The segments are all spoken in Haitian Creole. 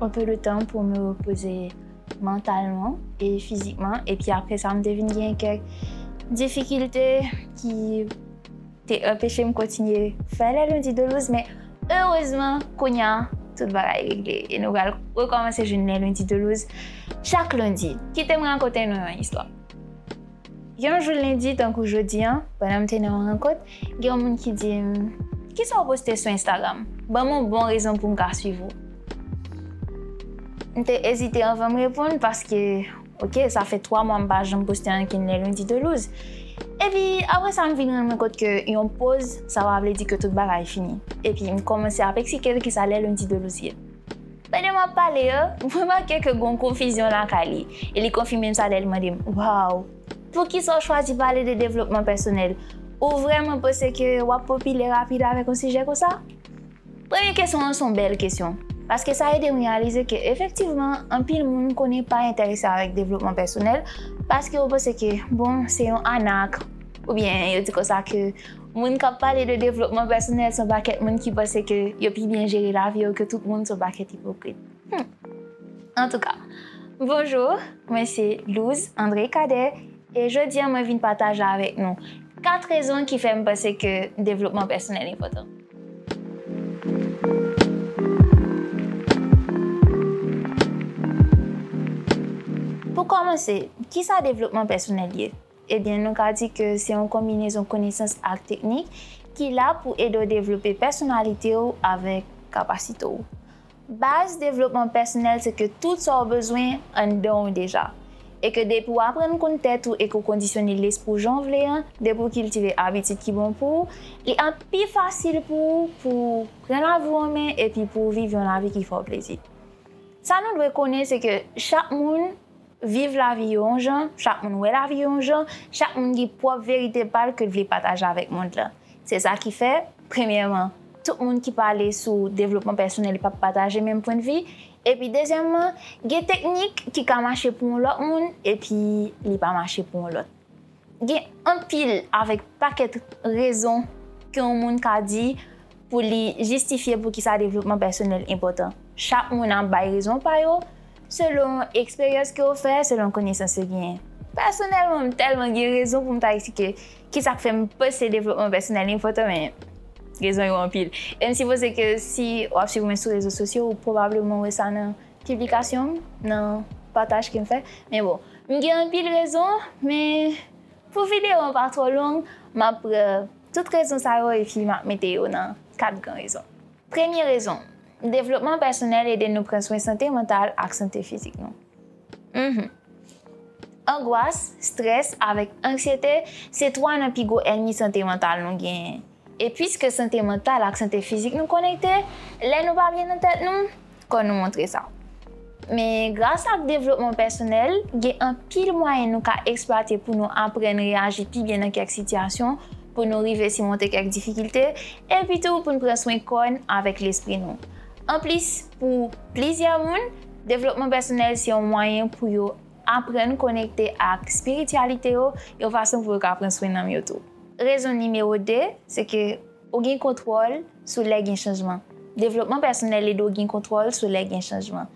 Un peu de temps pou me reposer mentalement et physiquement et puis après ça m te vin gen kèk difikilte ki te anpeche m kontinye fè les lundis de louse men erezman kounya tout bagay regle e nou pral rekòmanse jwenn les lundis de louse chak lundi. Kite m rakonte nou yon istwa. Yon jou lendi tankou jodi an, pandan m te nan yon rankont, gen yon moun ki di m, Kisa w poste sou Instagram? Ban m yon bon rezon pou m ka suiv ou. M te ezite anvan m reponn paske, oke, sa fè twa mwa m pa janm poste ankenn lè Lundi to Luz. Epi, apre sa m vin rann mwen kont ke yon poz, sa pa vle di ke tout bagay fini. Epi, m kòmanse ap eksplike l kisa lè Lundi to Luz ye. Pandan m ap pale yo, m remake ke gon konfizyon lakay li, e li konfime m sa lè li mande m, Waww! Poukisa w chwazi pale de devlopman pèsonèl? Ou vrèman panse ke w ap popilè rapid avèk yon sijè konsa? Premye kesyon an se yon bèl kesyon, paske sa ede m reyalize ke efektivman anpil moun konnen pa enterese avèk devlopman pèsonèl paske yo panse ke bon se yon anak oubyen yo di konsa ke Moun kap pale de devlopman pèsonèl son pakèt moun ki panse ke yo pi byen jere lavi yo ke tout moun son pakèt ipokrit humm antouka bonjour mwen se Louse André Cadet e jodi an mwen vin pataje avèk nou 4 rezon ki fèm panse ke devlopman pèsonèl enpòtan. Pou kòmanse kisa devlopman pèsonèl ye? Ebyen nou ka di ke se yon konbinezon konesans ak teknik ki la pou ede w devlope pèsonalite w avèk kapasite w. Baz devlopman pèsonèl se ke tout sa w bezwen anndan w deja, e ke depi w aprann konn tèt ou e ke w kondisyone lespri w jan w vle an, depi w kiltive abitid ki bon pou w, li ap pi fasil pou ou pou w pran lavi w an men epi pou w viv yon lavi ki fè w plezi. Sa nou dwe konnen se ke chak moun Viv lavi yo yon jan, chak moun wè lavi yo yon jan, chak moun gen pwòp verite pa l ke l vle pataje avèk mond lan. Se sa ki fè, premyèman, tout moun ki pale sou devlopman pèsonèl pa p pataje menm pwendvi, epi dezyèmman, gen teknik ki ka mache pou yon lòt moun epi li pa mache pou yon lòt. Gen anpil avèk pakèt rezon ke yon moun ka di pou li jistifye poukisa devlopman pèsonèl enpòtan. Chak moun ap bay rezon pa yo, selon eksperyans ke yo fè, selon konesans yo genyen. Pèsonèlman, m tèlman gen rezon pou m ta eksplike kisa k fè m panse devlopman pèsonèl enpòtan men rezon yo anpil. E m sipoze ke si w ap swiv mwen sou rezo sosyo, ou pwobableman wè sa nan. Piblikasyon m nan pataj ke m fè men bon m gen anpil rezon men pou video an pa twò long m ap pran tout rezon sa yo epi m ap mete yo nan 4 gran rezon premye rezon devlopman pèsonèl ede nou pran swen sante mantal ak sante fizik nou humm angwas strès avèk anksyete se 3 nan pi gwo ènmi sante mantal nou genyen. E piske sante mantal ak sante fizik nou konekte, lè nou pa byen nan tèt nou, kò nou montre sa. Men, gras ak devlopman pèsonèl, gen anpil mwayen nou ka eksplwate pou nou aprann reyaji pi byen nan kèk sitiyasyon, pou nou rive simonte kèk difikilte, epitou pou n pran swen kò n avèk lespri nou. Anplis, pou plizyè moun, devlopman pèsonèl se yon mwayen pou yo aprann konekte ak espirityalite yo yon fason pou yo ka pran swen nanm yo tou. Rezon nimewo 2, se ke ou gen kontwòl sou lè gen chanjman. Devlopman pèsonèl ede w gen kontwòl sou lè gen chanjman.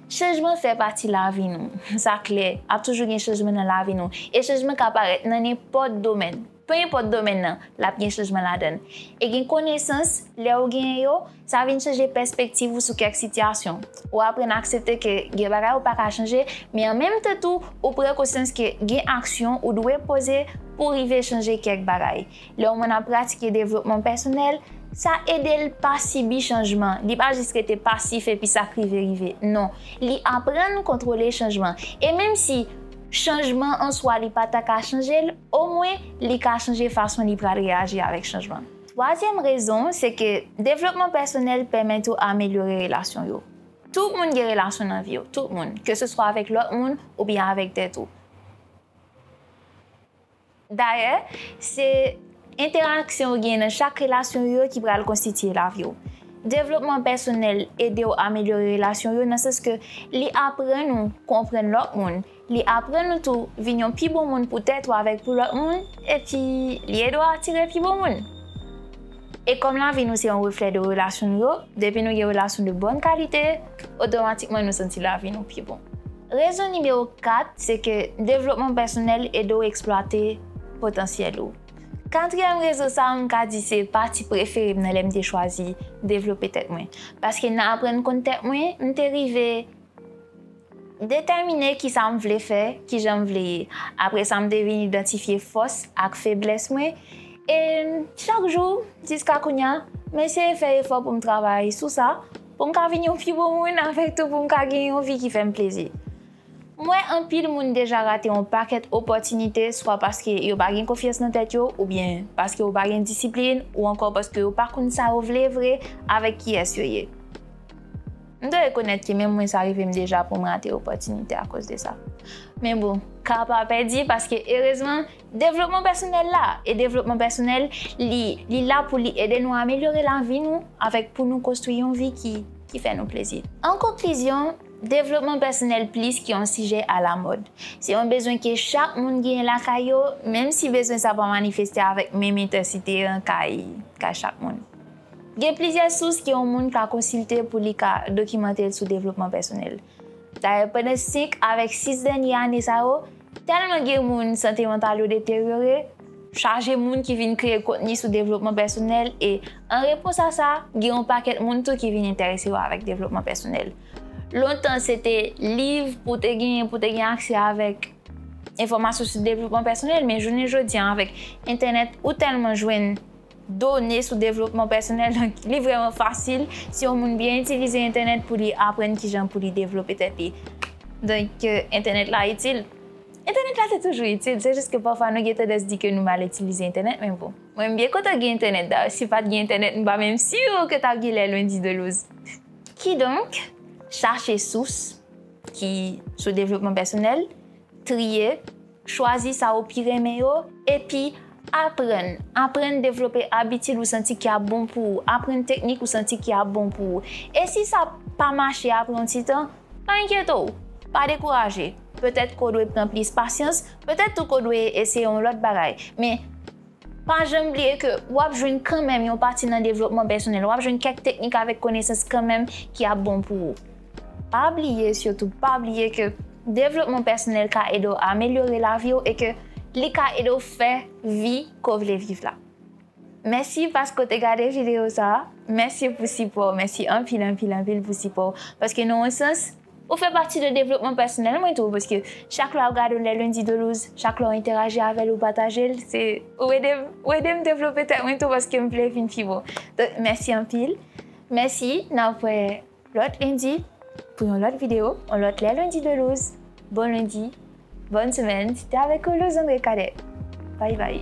Chanjman fè pati lavi nou. Sa klè, ap toujou gen chanjman nan lavi nou. E chanjman ka parèt nan nenpòt domèn. Penenpòt domèn nan, l ap gen chanjman ladan l. E gen konesans, lè ou genyen yo, Sa vin chanje pèspektiv ou sou kèk sitiyasyon. Ou aprann aksepte ke gen bagay ou pa ka chanje, men an menm tan tou, ou pran konsyans ke gen aksyon ou dwe poze pou w rive chanje kèk bagay. Lè yon moun ap pratike devlopman pèsonèl, sa ede l pa sibi chanjman, li pa jis rete pasif epi sa k rive rive. Non, li aprann kontwole chanjman. E menm si chanjman an swa li pa ta ka chanje l, omwen li ka chanje fason li pral reyaji avèk chanjman. Twazyèm rezon se ke devlopman pèsonèl pèmèt ou amelyore relasyon yo. Tout moun gen relasyon nan vi yo, tout moun, ke se swa avèk lòt moun oubyen avèk tèt ou. Dayè, se entèraksyon ou gen nan chak relasyon yo ki pral konstitye lavi ou. Devlopman pèsonèl ede ou amelyore relasyon yo nan sans ke li aprann ou konprann lòt moun Li aprann ou tou vin yon pi bon moun pou tèt ou avèk pou lòt moun, epi li ede w atire pi bon moun. E kòm lavi nou se yon reflè de relasyon nou yo, depi nou gen relasyon de bòn kalite, otomatikman nou santi lavi nou pi bon. Rezon nimewo 4 se ke devlopman pèsonèl ede w eksplwate potansyèl ou. Katriyèm rezon sa a m ka di se pati prefere m nan lè m te chwazi devlope tèt mwen. Paske nan aprann konn tèt mwen, m te rive. M detèmine ki sa m vle fè, ki jan m vle ye. Apre sa m te vin idantifye fòs ak feblès mwen e chak jou jiska kounya m eseye fè efò pou m travay sou sa pou m ka vin yon pi bon moun avèk tou pou m ka gen yon vi ki fè m plezi. M wè anpil moun deja rate yon pakèt opòtinite swa paske yo pa gen konfyans nan tèt yo oubyen paske yo pa gen disiplin ou ankò paske yo pa konn sa yo vle vre avèk kiyès yo ye. M dwe rekonèt ke menm mwen sa rive m deja pou m rate opòtinite akoz de sa. Men bon, ka pa pèdi paske erezman devlopman pèsonèl la e devlopman pèsonèl li li la pou li ede nou amelyore lavi nou avèk pou nou konstwi yon vi ki ki fè nou plezi. An konklizyon, devlopman pèsonèl plis ke yon sijè alamòd. Se yon bezwen ke chak moun genyen lakay yo, menm si bezwen sa pa manifeste avèk menm entèsite an kay kay chak moun. Gen plizyè sous ke yon moun ka konsilte pou li ka dokimante l sou devlopman pèsonèl. Dayè pandan 5 avèk 6 dènye ane sa yo, tèlman gen moun sante mantal yo deteryore, chaje moun ki vin kreye kontni sou devlopman pèsonèl e an repons a sa, gen yon pakèt moun tou ki vin enterese yo avèk devlopman pèsonèl. Lontan se te liv pou te genyen pou te gen aksè avèk enfòmasyon sou devlopman pèsonèl men jounen jodi a avèk entènèt ou tèlman jwenn done sou devlopman pèsonèl donk li vrèman fasil si yon moun byen itilize entènèt pou li aprann kijan pou li devlope tèt li donk entènèt la itil entènèt la te toujou itil se jis ke pafwa nou gen tandans di ke nou mal itilize entènèt men bon mwen m byen kontan gen entènèt dayè si pat gen entènèt m pa menm si ke tap gen lè lwen di de loz kidonk chache sous ki sou devlopman pèsonèl triye. Chwazi sa ou pi renmen yo, epi Aprann, aprann devlope abitid ou santi ki ap bon pou ou, aprann teknik ou santi ki ap bon pou ou. E si sa pa mache apre yon ti tan, pa enkyete w! Pa dekouraje! Petèt ke w dwe pran plis pasyans, petèt tou ke w dwe eseye yon lòt bagay. Men, Pa janm bliye ke w ap jwenn kanmenm yon pati nan devlopman pèsonèl, w ap jwenn kèk teknik avèk konesans kanmenm ki ap bon pou ou. Pa bliye, sitou pa bliye ke devlopman pèsonèl ka ede w amelyore lavi w e ke li ka ede w fè vi ke w vle viv la. Mèsi paske w te gade videyo sa a. Mèsi pou sipò w. Mèsi anpil, anpil, anpil pou sipò w. Paske nan yon sans. Ou fè pati de devlopman pèsonèl mwen tou paske chak lè wap gadem lè lundi de luz chak lè w entèraji avèl ou patajel se ou edem ou edem devlope tèt mwen tou paske m vle vin pi bon donk mèsi anpil mèsi nap wè lòt lundi pou yon lòt video yon lòt lè lundi de luz bon lundi bòn semèn se te avèk ou luz andre cadet bay bay.